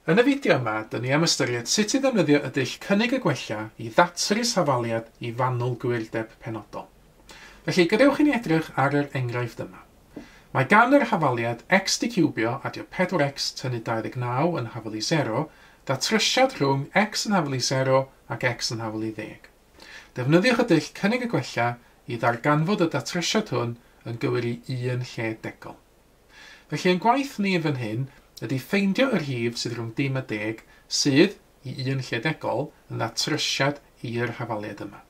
Yn y fideo yma, dyn ni am ystyried sut i ddefnyddio y dull Cynnig a Gwella i ddatrys hafaliad i fanwl gwyrdeb penodol. Felly, gadewch i ni edrych ar yr enghraifft yma. Mae gan yr hafaliad x diciwbio adio 4x tynnu 29 yn hafelu 0, ddatrysiad rhwng x yn hafelu 0 ac x yn hafelu 10. Defnyddiwch y dull Cynnig a Gwella i ddarganfod y datrysiad hwn yn gywir i un lle degol. Felly ein gwaith ni yn fan hyn ydy ffeindio y rhif sydd rhwng dim a deg sydd, i un lle degol, yn ddatrysiad i'r hafaliad yma.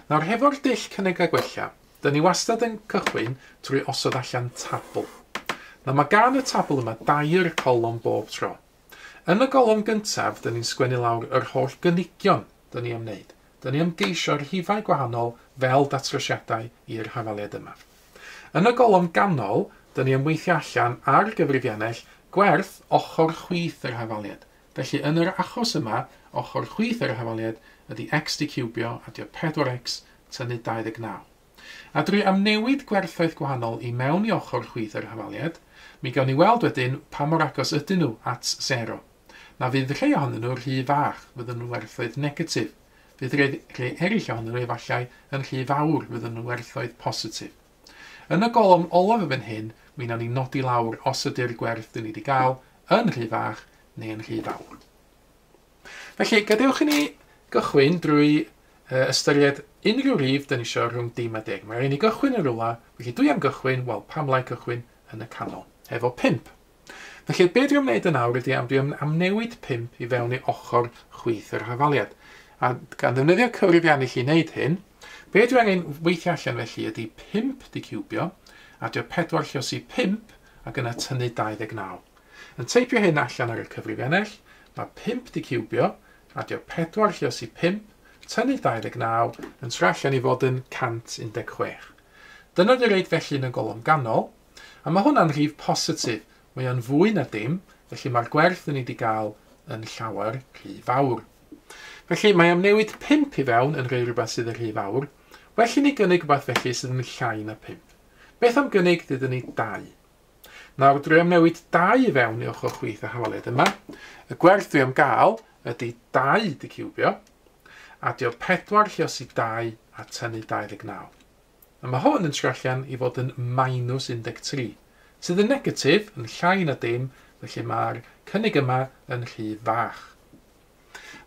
Nawr, hefo'r dull Cynnig a Gwella, dyn ni wastad yn cychwyn trwy osod allan tabl. Nawr, mae gan y tabl yma dair colofn bob tro. Yn y golofn gyntaf, dyn ni'n sgwennu lawr yr holl gynigion dyn ni am wneud. Dyn ni am geisio rhifau gwahanol fel datrysiadau i'r hafaliad yma. Yn y golofn ganol, dyn ni am weithio allan ar gyfrifiannell gwerth ochr chwith yr hafaliad. Felly, yn yr achos yma, ochr chwith yr hafaliad ydy x diciwbio, adio 4x, tynnu 29. A dwi am newid gwerthoedd gwahanol i mewn i ochr chwith yr hafaliad, mi gawn ni weld wedyn pa mor agos ydyn nhw at sero. Na fydd rhei ohonyn nhw rhy fach, fyddwn yn werthoedd negatif. Fydd rhei, rhei eraill ohonyn nhw efallai yn rhy fawr, fyddwn yn werthoedd positif. Yn y golofn olaf yn fan hyn, mi wnawn ni nodi lawr os ydy'r gwerth dyn ni wedi gael yn rhy fach neu yn rhy fawr. Felly, gadewch i ni gychwyn drwy uh, ystyried unrhyw rif dyn ni eisiau rhwng dim a deg. Mae rhaid ni gychwyn yn rhywle, felly dwi am gychwyn, wel pam lai cychwyn yn y canol, efo 5. Felly, be dwi'n gwneud yn awr ydy am dwi'n amnewid 5 i fewn i ochr chwith yr hafaliad. A gan ddefnyddio cyfrifian i chi wneud hyn, be dwi angen weithio allan felly ydy 5 di cubio, adio 4 lluosi 5, ac yna tynnu 29. Yn teipio hyn allan ar y cyfrifennell, mae 5 'di ciwbio, adio 4 lle os i 5, tynnu 29, yn tra allan i fod yn 116. Dyna dy reid felly yn y golofn ganol, a mae hwnna'n rhif positif, mae o'n fwy na dim, felly mae'r gwerth yn ni 'di gael yn llawer rhy fawr. Felly mae am newid 5 i fewn yn rhoi rhywbeth sydd yn rhy fawr, well i ni gynnig rhywbeth felly sydd yn llai na 5. Beth am gynnig dydyn ni 2? Nawr dwi am newid dau i fewn i ochr chwith y hafaliad yma. Y gwerth dwi am gael ydy 2 di ciwbio. Adio 4 lliosi 2 a tynnu 29. A mae hwn yn trio allan i fod yn minus 13, sydd yn negatif, yn llai na dim, felly mae'r cynnig yma yn rhy fach.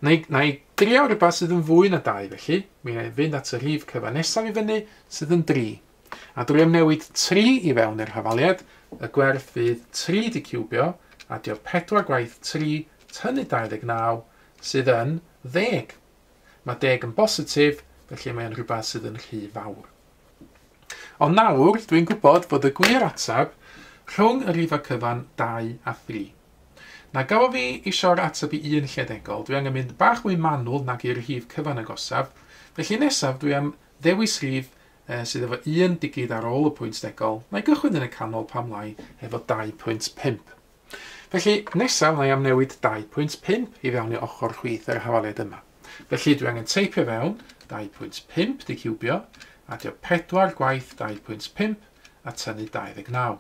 Na i, na i drio rhywbeth sydd yn fwy na dau felly, mi na i fynd at y rhif cyfa nesaf i fyny sydd yn 3. A drwy ymnewid 3 i fewn i'r hafaliad, y gwerth fydd 3 di ciwbio, a diodd 4 gwaith 3 tynnu 29 sydd yn 10. Mae 10 yn bositif, felly mae'n rhywbeth sydd yn rhy fawr. Ond nawr, dwi'n gwybod fod y gwir ateb rhwng y rhifau cyfan 2 a 3. Na gafodd fi isio'r ateb i un lled-egol, dwi angen mynd bach mwy manwl nag i'r rhif cyfan agosaf, felly nesaf dwi am ddewis rhif eh, sydd efo un digid ar ôl y pwynt degol, na i gychwyn yn y canol pam lai efo 2.5. Felly, nesaf mae am newid 2.5 i fewn i ochr chwith yr hafaliad yma. Felly, dwi angen teipio fewn 2.5 di ciwbio, adio 4 gwaith 2.5 a tynnu 29.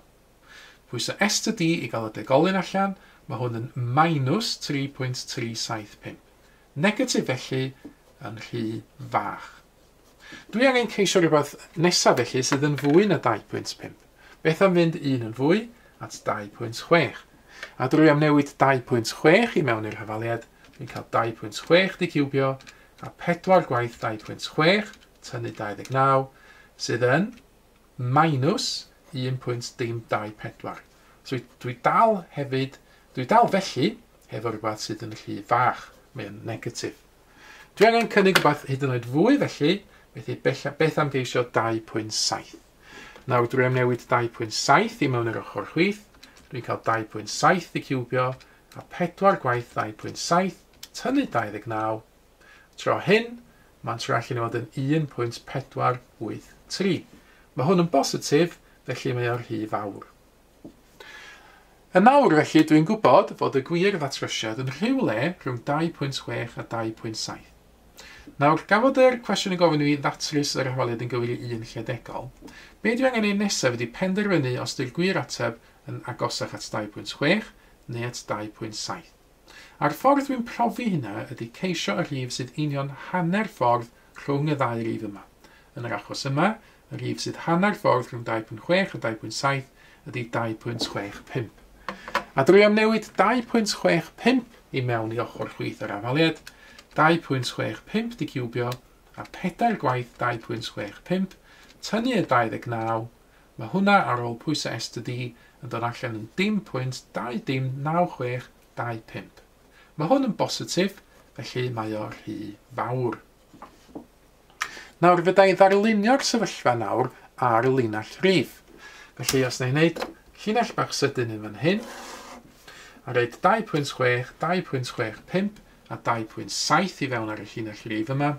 Pwyso Ester D i gael y degolyn allan, mae hwn yn minus 3.375. Negatif felly, yn rhy fach. Dwi angen ceisio rhywbeth nesa felly sydd yn fwy na 2.5. Beth am fynd un yn fwy at 2.6? A drwy amnewid 2.6 i mewn i'r hafaliad, dwi'n cael 2.6 di ciwbio a 4 gwaith 2.6 tynnu 29 sydd yn minus 1.dim24. So dwi dal hefyd, dwi dal felly hefo rhywbeth sydd yn rhy fach, mae'n negatif. Dwi angen cynnig rhywbeth hyd yn oed fwy felly, felly beth am geisio 2.7? Nawr dwi am newid 2.7 i mewn i'r ochr chwith, dwi'n cael 2.7 i ciwbio, a 4 gwaith 2.7, tynnu 29. Tro hyn, mae'n tro allan i fod yn 1.483. Mae hwn yn bositif, felly mae o'r rhy fawr. Yn awr, felly, dwi'n gwybod fod y gwir ddatrysiad yn rhywle rhwng 2.6 a 2.7. Nawr, gan fod yr cwestiwn yn gofyn i mi ddatrys yr hawliad yn gywir i un lle degol, be dwi angen ei nesaf ydi penderfynu os di'r gwir ateb yn agosach at 2.6 neu at 2.7. A'r ffordd dwi'n profi hynna ydy ceisio y rhif sydd union hanner ffordd rhwng y ddau rif yma. Yn yr achos yma, y rhif sydd hanner ffordd rhwng 2.6 a 2.7 ydy 2.65. A drwy amnewid 2.65 i mewn i ochr chwith yr afaliad, 2.65 'di ciwbio, a phedair gwaith 2.65, tynnu y 29, Mae hwnna ar ôl pwysau estr di yn dod allan yn 0.20965. Mae hwn yn bositif, felly mae o rhy fawr. Nawr fydda i ddarlunio'r sefyllfa nawr ar y linell rif. Felly os na i'n neud llinell bach sydyn yn fan hyn, a roed 2.6, 2.65 a 2.7 i fewn ar y llinell rif yma,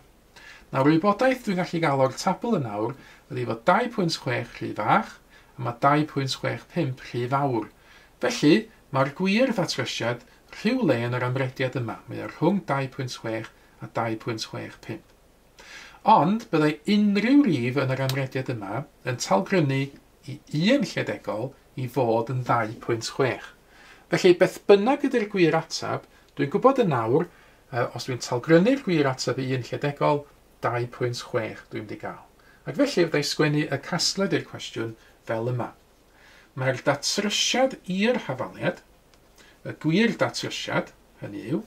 Nawr y wybodaeth dwi'n gallu gael o'r tabl yn awr ydy fod 2.6 rhy fach a mae 2.65 rhy fawr. Felly, mae'r gwir ddatrysiad rhywle yn yr amrediad yma, mae o rhwng 2.6 a 2.65. Ond, byddai unrhyw rif yn yr amrediad yma yn talgrynnu i un lledegol i fod yn 2.6. Felly, beth bynnag ydy'r gwir ateb, dwi'n gwybod yn awr A os dwi'n talgrynnu'r gwir ateb i un lledegol, 2.6 dwi'n mynd i gael. Ac felly fydda i sgwennu y casgliad i'r cwestiwn fel yma. Mae'r datrysiad i'r hafaliad, y gwir datrysiad, hynny yw,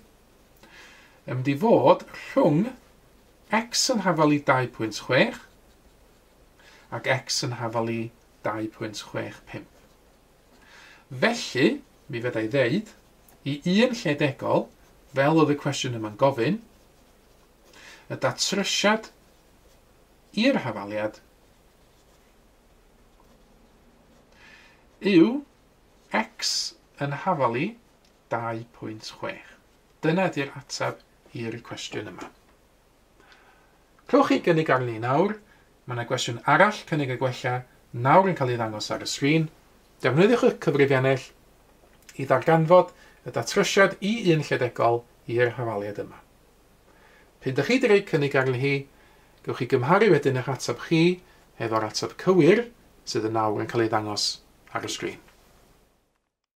yn mynd i fod rhwng x yn hafal i 2.6 ac x yn hafal i 2.65. Felly, mi fedra i ddeud, i un lle degol, fel oedd y cwestiwn yma'n gofyn, y datrysiad i'r hafaliad yw x yn hafalu 2.6. Dyna 'di'r ateb i'r cwestiwn yma. Clywch chi gynnig arni nawr, mae yna gwestiwn arall cynnig a gwella nawr yn cael ei ddangos ar y sgrin. Defnyddiwch y cyfrifiannell i ddarganfod y datrysiad i un lledegol i'r hafaliad yma. P'un dych chi wedi rhoi cynnig arni hi, gewch chi gymharu wedyn eich ateb chi hefo'r ateb cywir sydd yn nawr yn cael ei ddangos ar y sgrin.